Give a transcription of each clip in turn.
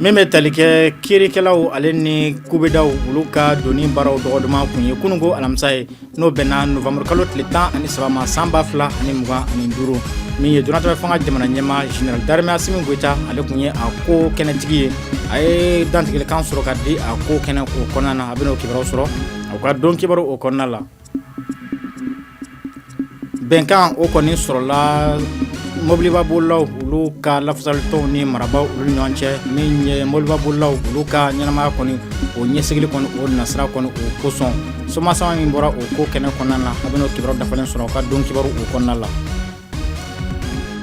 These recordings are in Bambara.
Min bɛ tali kɛ kiirikɛlaw ale ni kubedaw olu ka donni baaraw dɔgɔ duman tun ye kunun ko alamisa ye n'o bɛnna novembre kalo tile tan ani saba ma san ba fila ani mugan ani duuru min ye donatɛmɛ fanga jamana ɲɛmaa général d'armée Assimi Goïta ale tun ye a ko kɛnɛtigi ye a ye dantigɛlikan sɔrɔ ka di a ko kɛnɛ o kɔnɔna na a bɛn'o kibaruw sɔrɔ a ka don kibaruw o kɔnɔna la bɛnkan o kɔni sɔrɔla mɔbiliba bolilaw olu ka lafasalitɔnw ni marabaaw olu ɲɔgɔn cɛ min ye mɔbiliba bolilaw olu ka ɲɛnamaya kɔni o ɲɛsigili kɔni o nasira kɔni o kosɔn somasama min bɔra o ko kɛnɛ kɔnɔna na a bɛna o kibaru dafalen sɔrɔ ka don kibaru o kɔnɔna la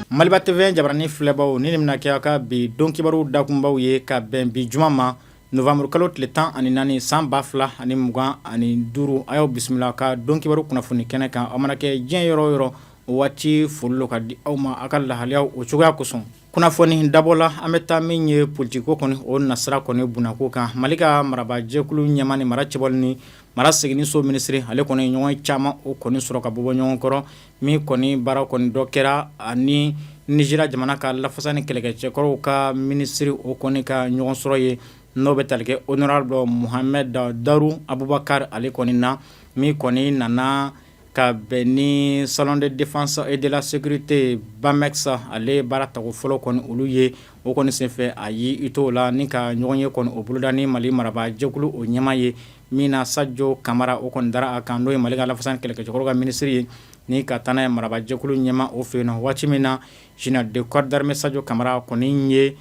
maliba TV jabaranin filɛbaw nin de bɛna kɛ a ka bi don kibaru dakunbaw ye ka bɛn bi juma ma Novembre kalo tile tan ani naani san ba fila ani mugan ani duuru a y'aw bisimila ka don kibaru kunnafoni kɛnɛ kan aw mana kɛ diɲɛ yɔrɔ o yɔrɔ o waati foli don ka di aw ma aw ka lahalayaw o cogoya kosɔn kunnafoni dabɔla an bɛ taa min ye politikiko kɔni o nasira kɔni bunnako kan mali ka marabajɛkulu ɲɛmaa ni mara cɛbɔli ni mara seginso minisiri ale kɔni ɲɔgɔn caman o kɔni sɔrɔ ka bɔ bɔ ɲɔgɔn kɔrɔ Min kɔni baara kɔni dɔ kɛra ani Nigeria jamana ka lafasa ni kɛlɛkɛcɛkɔrɔw ka minisiri o kɔni ka ɲɔgɔn sɔrɔ ye n'o bɛ tali kɛ honorable Mohamed Badaru Abubakar ale kɔni na min kɔni nana ka bɛn ni salon de défense et de la sécurité BAMEX ale baara tako fɔlɔ kɔni olu ye O kɔni senfɛ a y'i to la ni ka ɲɔgɔnye kɔni o boloda ni mali marabaa jɛkulu o ɲɛmaa ye min na sajɔ kamara o kɔni dara a kan n'o ye mali ka lafasa ni kɛlɛkɛcɛkɔrɔw ka minisiri ye ni ka taa n'a ye marabajɛkulu ɲɛmaa o fɛ yen na waati min na général de corps d'armée sajɔ kamara kɔni ye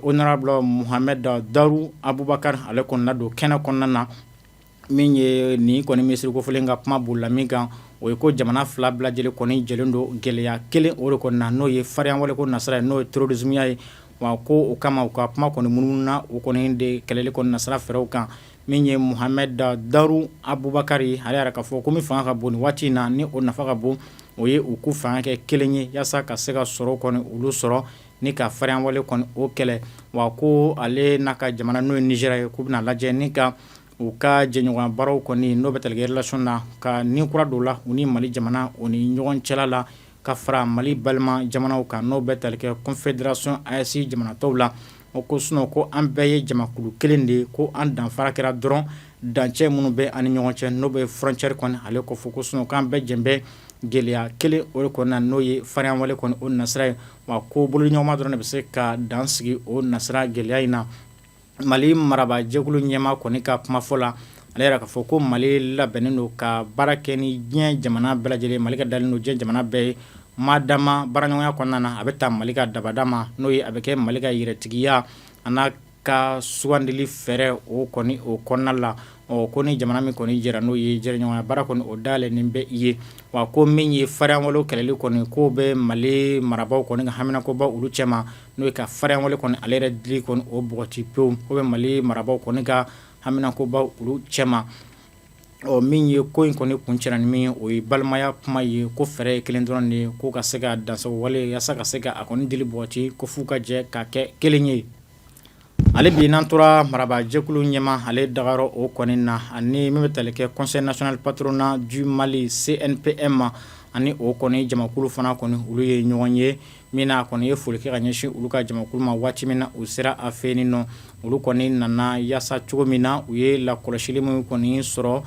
honorable Mohamed Badaru Abubakar ale kɔni ladon kɛnɛ kɔnɔna na min ye nin kɔni minisiri kofɔlen ka kuma bolila min kan o ye ko jamana fila bɛɛ lajɛlen kɔni jɛlen don gɛlɛya kelen o de kɔnɔ na n'o ye farinya wale ko nasira ye n'o ye terrorisme ye wa ko o kama u ka kuma kɔni munumununa o kɔni de kɛlɛli kɔni nasira fɛɛrɛw kan min ye Mohamed Badaru Abubakar ye a yɛrɛ ka fɔ ko min fanga ka bon nin waati in na ni o nafa ka bon o ye u k'u fanga kɛ kelen ye walasa ka se ka sɔrɔ kɔni olu sɔrɔ ni ka farinya wale kɔni o kɛlɛ wa ko ale n'a ka jamana n'o ye Nigeria ye k'u bɛna lajɛ ni ka u ka jɛɲɔgɔnya baaraw kɔni n'o bɛ tali kɛ relation na ka ni kura don u la u ni mali jamana u ni ɲɔgɔn cɛla la ka fara mali balima jamanaw kan n'o bɛ tali kɛ confédération AES jamana tɔw la o ko sinon ko an bɛɛ ye jamakulu kelen de ye ko an danfara kɛra dɔrɔn dancɛ minnu bɛ an ni ɲɔgɔn cɛ n'o bɛ frontière kɔni ale ko fɔ ko sinon an bɛɛ jɛlen bɛ gɛlɛya kelen o de kɔnɔna na n'o ye farinya wale kɔni o nasira ye wa ko bolo ɲɔgɔnma dɔrɔn de bɛ se ka dan sigi o nasira gɛlɛya in na Mali marabaajɛkulu ɲɛmaa kɔni ka kumafɔ la ale y'a yira k'a fɔ ko Mali labɛnnen don ka baara kɛ ni diɲɛ jamana bɛɛ lajɛlen ye Mali ka dalen don diɲɛ jamana bɛɛ ye maa d'a ma baaraɲɔgɔnya kɔnɔna na a bɛ taa Mali ka dabada ma n'o ye a bɛ kɛ Mali ka yɛrɛtigiya an'a ka sugandili fɛɛrɛ o kɔni o kɔnɔna la ɔ ko ni jamana min kɔni jɛra n'o ye jɛɲɔgɔnya baara kɔni o dayɛlɛnnen bɛ i ye wa ko min ye farinyawale kɛlɛli kɔni k'o bɛ mali marabagaw kɔni ka haminakoba olu cɛ ma n'o ye ka farinyawale kɔni ale yɛrɛ dili kɔni o bɔgɔti pewu o bɛ mali marabagaw kɔni ka haminakoba olu cɛ ma ɔ min ye ko in kɔni kuncɛra ni min ye o ye balimaya kuma ye ko fɛɛrɛ ye kelen dɔrɔn de ye ko ka se ka dansago wale yaasa ka se ka a kɔni dili bɔgɔti ko f'u ka jɛ ka kɛ kelen ye Ali bi n'an tora marabaajɛkulu ɲɛmaa ale dagayɔrɔ o kɔni na ani min bɛ tali kɛ conseil national patronat du Mali CNPM ma ani o kɔni jamakulu fana kɔni olu ye ɲɔgɔn ye min n'a kɔni ye foli kɛ ka ɲɛsin olu ka jamakulu ma waati min na u sera a fɛ yen ɔ olu kɔni nana yaasa cogo min na u ye lakɔlɔsili min kɔni sɔrɔ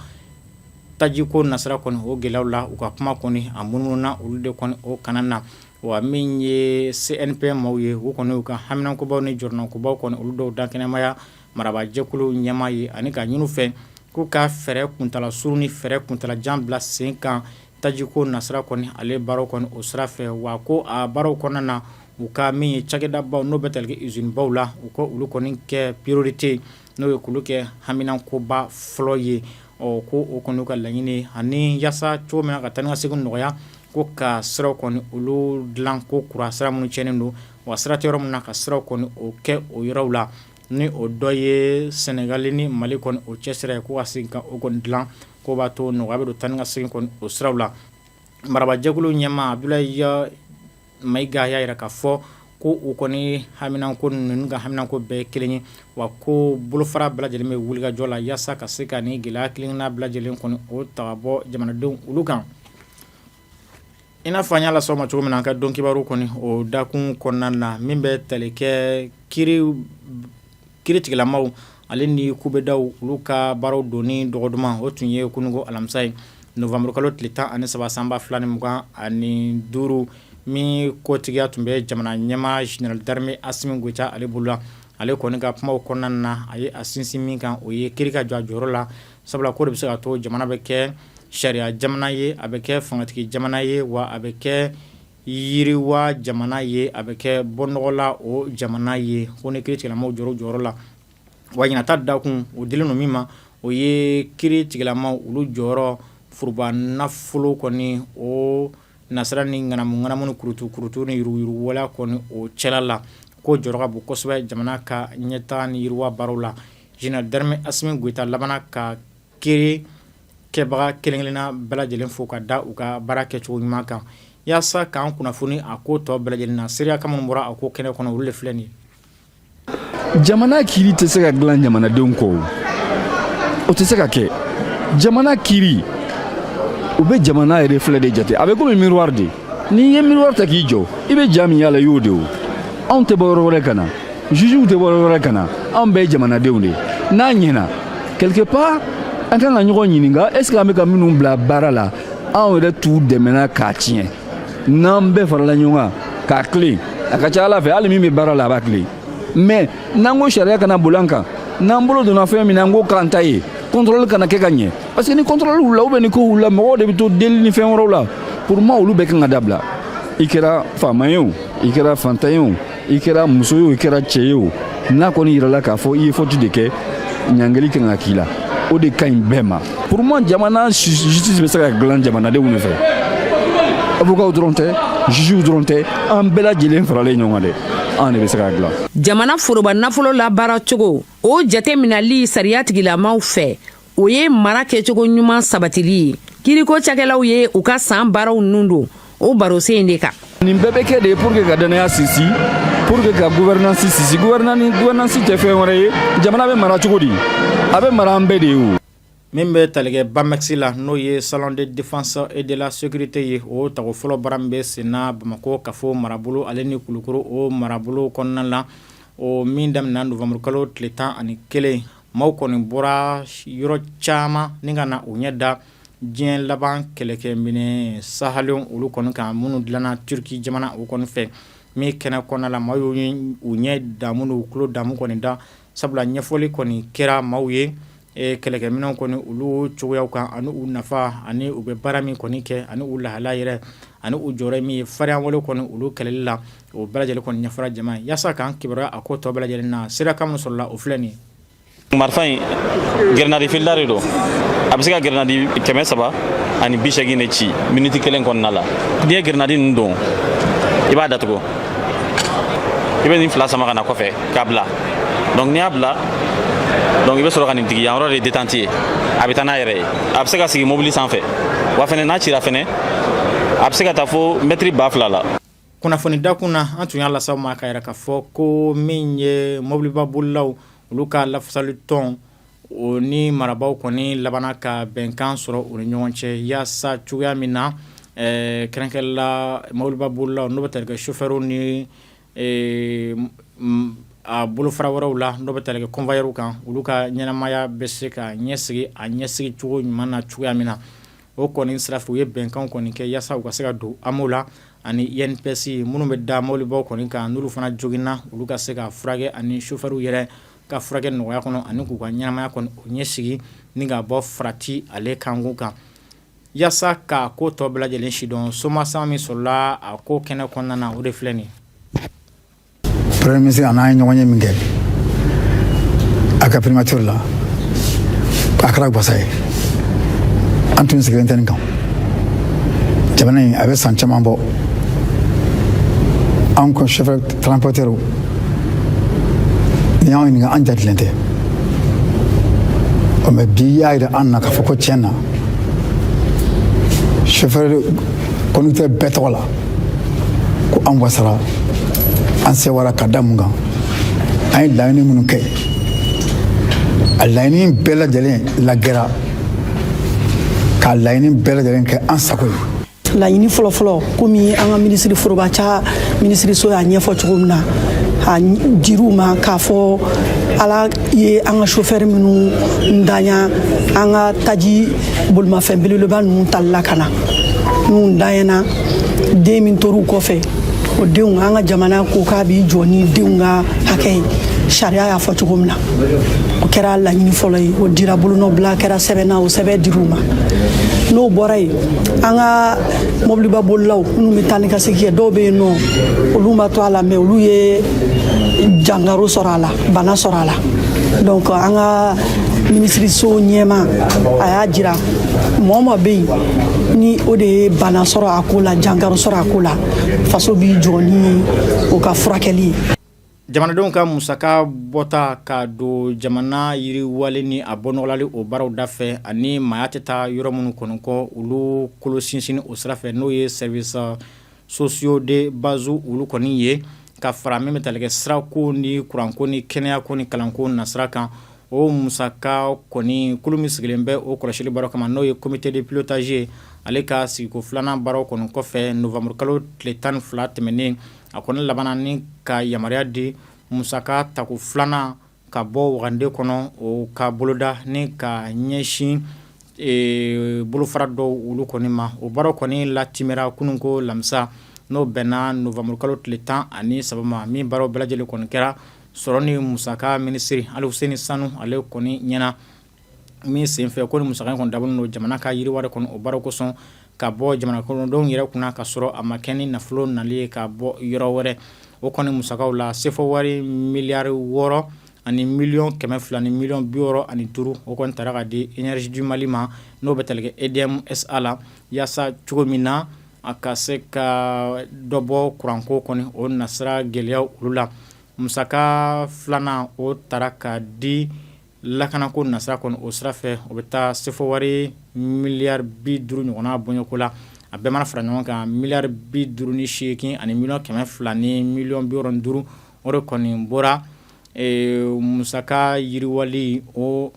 tajiko nasira kɔni o gɛlɛyaw la u ka kuma kɔni a munumununa olu de kɔni o kana na wa min ye CNPM maaw ye u kɔni y'u ka haminankobaw ni jɔrɔnankobaw kɔni olu dɔw dakɛnɛmaya marabaajɛkulu ɲɛmaa ye ani ka ɲini u fɛ k'u ka fɛɛrɛ kuntaala surun ni fɛɛrɛ kuntaala jan bila sen kan tajiko nasira kɔni ale baaraw kɔni o sira fɛ wa ko a baaraw kɔnɔna na u ka min ye cakɛdabaw n'o bɛ tali kɛ usine baw la u ka olu kɔni kɛ priorité n'o ye k'olu kɛ haminankoba fɔlɔ ye ɔ ko o kɔni y'u ka laɲini ye ani yaasa cogo min na ka taa ni ka segin nɔgɔya ko ka siraw kɔni olu dilan ko kura sira minnu cɛnnen don wa sira tɛ yɔrɔ min na ka sira kɔni o kɛ o yɔrɔw la ni o dɔ ye sɛnɛgali ni mali kɔni o cɛ sira ye ko ka segin ka o kɔni dilan k'o b'a to nɔgɔya bɛ don taa ni ka segin kɔni o siraw la marabajɛkulu ɲɛmaa a Mayiga y'a yira k'a fɔ ko u kɔni haminanko ninnu ka haminanko bɛɛ kelen ye wa ko bolofara bɛɛ lajɛlen bɛ wulikajɔ la yaasa ka se ka nin gɛlɛya kelenna bɛɛ lajɛlen kɔni o ta ka bɔ jamanadenw olu kan i n'a fɔ an y'a lasɔmi cogo min na an ka don kibaru kɔni o dakun kɔnɔna na min bɛ tali kɛ ki kiiritigɛlamaaw ale ni kubedaw olu ka baaraw donni dɔgɔ duman o tun ye kunungo alamisa ye nowanburukalo tile tan ani saba sanba fila ni mugan ani duuru min kotigiya tun bɛ jamana ɲɛmaa général d'armée Assimi Goïta ale bolo la ale kɔni ka kumaw kɔnɔna na a ye a sinsin min kan o ye kiiri ka jɔ a jɔyɔrɔ la sabula k'o de bɛ se ka to jamana bɛ kɛ sariya jamana ye a bɛ kɛ fangatigi jamana ye wa a bɛ kɛ yiriwa jamana ye a bɛ kɛ bɔnɔgɔla o jamana ye ko ni kiiri tigilamaw jɔ jɔyɔrɔ la wa ɲinan ta dakun o dilen don min ma o ye kiiri tigilamaw olu jɔyɔrɔ foroba nafolo kɔni o nasira ni ŋanamuŋanamu ni kurutukurutu ni yuruguyurugu wale kɔni o cɛla la k'o jɔyɔrɔ ka bon kosɛbɛ jamana ka ɲɛtaga ni yiriwa baaraw la général d'armée assimi goïta labanna ka Kiiri kɛbaga kelenkelenna bɛɛ lajɛlen fo ka da u ka baara kɛ cogo ɲuman kan yaasa k'an kunnafoni a ko tɔ bɛɛ lajɛlen na seereya kan minnu bɔra a ko kɛnɛ kɔnɔ olu de filɛ nin ye jamana kiiri tɛ se ka dilan jamanadenw kɔ o tɛ se ka kɛ jamana kiiri o bɛ jamana yɛrɛ filɛ de jate a bɛ kɔmi miroir de n'i ye miroir ta k'i jɔ i bɛ ja min y'a la i y'o de o anw tɛ bɔ yɔrɔ wɛrɛ ka na jugew tɛ bɔ yɔrɔ wɛrɛ ka na anw bɛɛ ye jamanadenw de ye n'a ɲɛna quelque part an kan ka ɲɔgɔn ɲininka est ce que an bɛ ka minnu bila baara la anw yɛrɛ t'u dɛmɛna k'a tiɲɛ n'an bɛɛ farala ɲɔgɔn kan k'a tilen a ka ca ala fɛ hali min bɛ baara la a b'a tilen mais n'an ko sariya kana boli an kan n'an bolo donna fɛn min na an k'o k'an ta ye contrôle kana kɛ ka ɲɛ parce que ni contrôle wulila ou bien ni ko wulila mɔgɔw de bɛ to deli ni fɛn wɛrɛw la pour moi olu bɛɛ kan ka dabila i kɛra faama ye o i kɛra fantan ye o i kɛra muso ye o i kɛra cɛ ye o n'a kɔni yirala k'a fɔ i ye faute de kɛ ɲangeli kan ka k'i la o de ka ɲi bɛɛ ma pour moi jamana justice bɛ se ka dilan jamanadenw de fɛ avocaw dɔrɔn tɛ jugew dɔrɔn tɛ an bɛɛ lajɛlen faralen ɲɔgɔn kan dɛ an de bɛ se k'a dilan jamana foroba nafolo labaara cogo o jateminɛli sariya tigilamaw fɛ o ye mara kɛcogo ɲuman sabatili ye kiiriko cakɛlaw ye u ka san baaraw nun don o baro sen in de kan nin bɛɛ bɛ kɛ de pour que ka dannaya sinsin pour que ka gouvernance sinsin gouvernance tɛ fɛn wɛrɛ ye jamana bɛ mara cogo di a bɛ mara an bɛɛ de ye o min bɛ talikɛ bamex la n'o ye salon de défense et de la sécurité ye o tago fɔlɔ baara min bɛ senna bamakɔ kafo marabolo ale ni kulukoro o marabolo kɔnɔna la o min daminɛna novembre kalo tile tan ani kelen Maaw kɔni bɔra yɔrɔ caman ni ka na u ɲɛ da diɲɛ laban kɛlɛkɛminɛn sahalenw olu kɔni kan minnu dilanna turuki jamana o kɔni fɛ min kɛnɛ kɔnɔna la maaw y'u ɲɛ damu n'u tulo damu kɔni da sabula ɲɛfɔli kɔni kɛra maaw ye kɛlɛkɛminɛnw kɔni olu cogoyaw kan ani u nafa ani u bɛ baara min kɔni kɛ ani u lahala yɛrɛ ani u jɔyɔrɔ min ye farinya wale kɔni olu kɛlɛli la O bɛɛ lajɛlen kɔni ɲɛfɔra jama ye yaasa k'an kibaruya a ko tɔ bɛɛ lajɛlen na sira kan min sɔrɔla o filɛ nin ye. Marifa in grenade filida de don a bɛ se ka grenade kɛmɛ saba ani bi seegin de ci miniti kelen kɔnɔna la n'i ye grenade ninnu don i b'a datugu i bɛ nin fila sama ka na kɔfɛ k'a bila donc n'i y'a bila donc i bɛ sɔrɔ ka nin digi yan yɔrɔ de ye détente ye a bɛ taa n'a yɛrɛ ye a bɛ se ka sigi mobili sanfɛ wa fɛnɛ n'a cira fɛnɛ a bɛ se ka taa fo mɛtiri ba fila la Kunnafoni dakun na an tun y'a las'aw ma k'a yira k'a fɔ ko min ye mɔbiliba bolilaw olu ka lafasali tɔn o ni marabaaw kɔni labanna ka bɛnkan sɔrɔ u ni ɲɔgɔn cɛ yaasa cogoya min na kɛrɛnkɛrɛnla mɔbiliba bolilaw n'o bɛ tali kɛ sofɛriw ni a bolofara wɛrɛw la n'o bɛ tali kɛ convoyeurw kan olu ka ɲɛnamaya bɛ se ka ɲɛsigi a ɲɛsigi cogo ɲuman na cogoya min na o kɔni sira fɛ u ye bɛnkanw kɔni kɛ yaasa u ka se ka don AMO la ani INPS minnu bɛ da mobilibaw kɔni kan n'olu fana joginna olu ka se ka furakɛ ani sofɛriw yɛrɛ ka furakɛ nɔgɔya kɔnɔ ani k'u ka ɲɛnamaya kɔni o ɲɛsigi ni ka bɔ farati ale kan kan yaasa ka ko tɔ bɛɛ lajɛlen sidɔn soma san min sɔrɔla a ko kɛnɛ kɔnɔna na o de filɛ nin premier ministre an n'a ye ɲɔgɔn ye min kɛ a ka primature la a kɛra gwasa ye an tun sigilen tɛ nin kan jamana in a bɛ san caman bɔ anw ka chauffeur transporteur n'i y'anw ɲininka an jatilen tɛ ɔ mɛ bi y'a jira an na k'a fɔ ko tiɲɛ na chauffeur conducteur bɛɛ tɔgɔ la ko an wasara an sewara ka da mun kan an ye laɲini minnu kɛ a laɲini bɛɛ lajɛlen lagɛra ka laɲini bɛɛ lajɛlen kɛ an sago ye laɲini fɔlɔfɔlɔ komi an ka minisiri forobaca minisiriso y'a ɲɛfɔ cogo min na a dir'u ma k'a fɔ ala ye an ka sofɛri minnu ntanya an ka taji bolimafɛn belebeleba ninnu tali la ka na n'u ntanyana den min tor'u kɔfɛ o denw an ka jamana ko k'a b'i jɔ ni denw ka hakɛ ye sariya y'a fɔ cogo min na o kɛra laɲini fɔlɔ ye o dira bolonɔbila kɛra sɛbɛn na o sɛbɛn dir'u ma n'o bɔra yen an ka mɔbiliba bolilaw minnu bɛ taa ni ka segin kɛ dɔw bɛ yen n'olu ma to a la mɛ olu ye jangaro sɔrɔ a la bana sɔrɔ a la donc an ka minisiriso ɲɛmaa a y'a jira mɔgɔ ma bɛ yen ni o de ye bana sɔrɔ a ko la jankaro sɔrɔ a ko la faso b'i jɔ ni o ka furakɛli ye jamanadenw ka musaka bɔta ka don jamana yiriwali ni a bɔnɔgɔlali o baaraw da fɛ ani maaya tɛ taa yɔrɔ minnu kɔnɔ kɔ olu kolo sinsin o sira fɛ n'o ye service sociaux de base olu kɔni ye ka fara min bɛ talikɛ sira ko ni kuranko ni kɛnɛya ko ni kalanko nasira kan o musaka kɔni kulu min sigilen bɛ o kɔlɔsili baaraw kama n'o ye comité de pilotage ale ka sigiko filanan baaraw kɔni kɔfɛ nowanburu kalo tile tan ni fila tɛmɛnen a kɔni labanna ni ka yamaruya di musaka tako filanan ka bɔ wagande kɔnɔ o ka boloda ni ka ɲɛsin bolofara dɔw olu kɔni ma o baaraw kɔni latimɛra kunun ko alamisa n'o bɛnna nowanburu kalo tile tan ani saba ma min baaraw bɛɛ lajɛlen kɔni kɛra sɔrɔ ni musaka minisiri Aluseni Sanu ale kɔni ɲɛna min senfɛ ko ni musaka in kɔni dabɔlen don jamana ka yiriwali kɔnɔ o baaraw kosɔn ka bɔ jamanadenw yɛrɛ kunna ka sɔrɔ a ma kɛ ni nafolo nali ye ka bɔ yɔrɔ wɛrɛ o kɔni musakaw la sefɔ wari miliyari wɔɔrɔ ani miliyɔn kɛmɛ fila ni miliyɔn bi wɔɔrɔ ani duuru o kɔni taara ka di Énergie du Mali ma n'o bɛ talikɛ EDM SA la yaasa cogo min na a ka se ka dɔ bɔ kuranko kɔni o nasira gɛlɛya olu la musaka filanan o taara ka di Lakana ko nasira kɔni o sira fɛ o bɛ taa sefɔ wari miliyari bi duuru ɲɔgɔnna bɔɲɔgɔnko la a bɛɛ mana fara ɲɔgɔn kan miliyari bi duuru ni seegin ani miliyɔn kɛmɛ fila ni miliyɔn bi wɔɔrɔ ni duuru o de kɔni bɔra musaka yiriwali o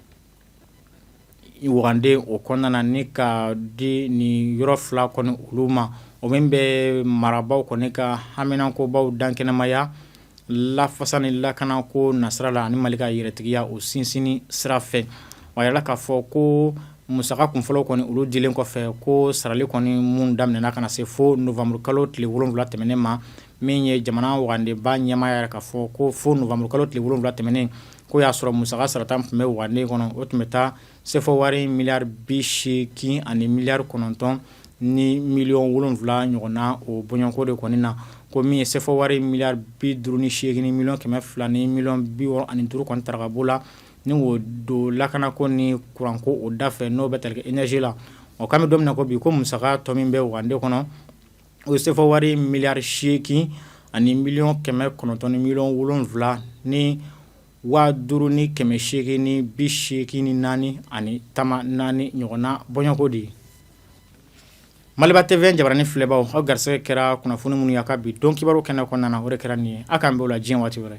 wagande o kɔnɔna na ni ka di ni yɔrɔ fila kɔni olu ma o min bɛ marabaaw kɔni ka haminankobaw dankɛnɛmaya lafasa ni lakana ko nasira la ani mali ka yɛrɛtigiya o sinsinni sira fɛ wa a yirala k'a fɔ ko musaka kunfɔlɔw kɔni olu dilen kɔfɛ ko sarali kɔni min daminɛna ka na se fo nowanburu kalo tile wolonwula tɛmɛnen ma min ye jamana wagandeba ɲɛmaa y'a yira k'a fɔ ko fo nowanburu kalo tile wolonwula tɛmɛnen ko y'a sɔrɔ musaka sarata tun bɛ wagande kɔnɔ o tun bɛ taa Sefɔ wari miliyari bi seegin ani miliyari kɔnɔntɔn ni miliyɔn wolonwula ɲɔgɔn na o bɔɲɔgɔnko de kɔni na ko min ye sefɔ wari miliyari bi duuru ni seegin ni miliyɔn kɛmɛ fila ni miliyɔn bi wɔɔrɔ ani duuru kɔni taara ka bɔ a la ni o don lakana ko ni kuranko o da fɛ n'o bɛ talikɛ énergie la o kami don ko bi ko musaka tɔ min bɛ wagande kɔnɔ o ye sefɔ wari miliyari seegin ani miliyɔn kɛmɛ kɔnɔntɔn ni miliyɔn wolonwula ni waa duuru ni kɛmɛ seegin ni bi seegin ni naani ani tama naani ɲɔgɔnna bɔɲɔgɔnko de ye Maliba TV jabaranin filɛbaw aw garisigɛ kɛra kunnafoni minnu y'an ka bi don kibaru kɛnɛ kɔnɔna na o de kɛra nin ye aw k'an bɛn o la diɲɛ waati wɛrɛ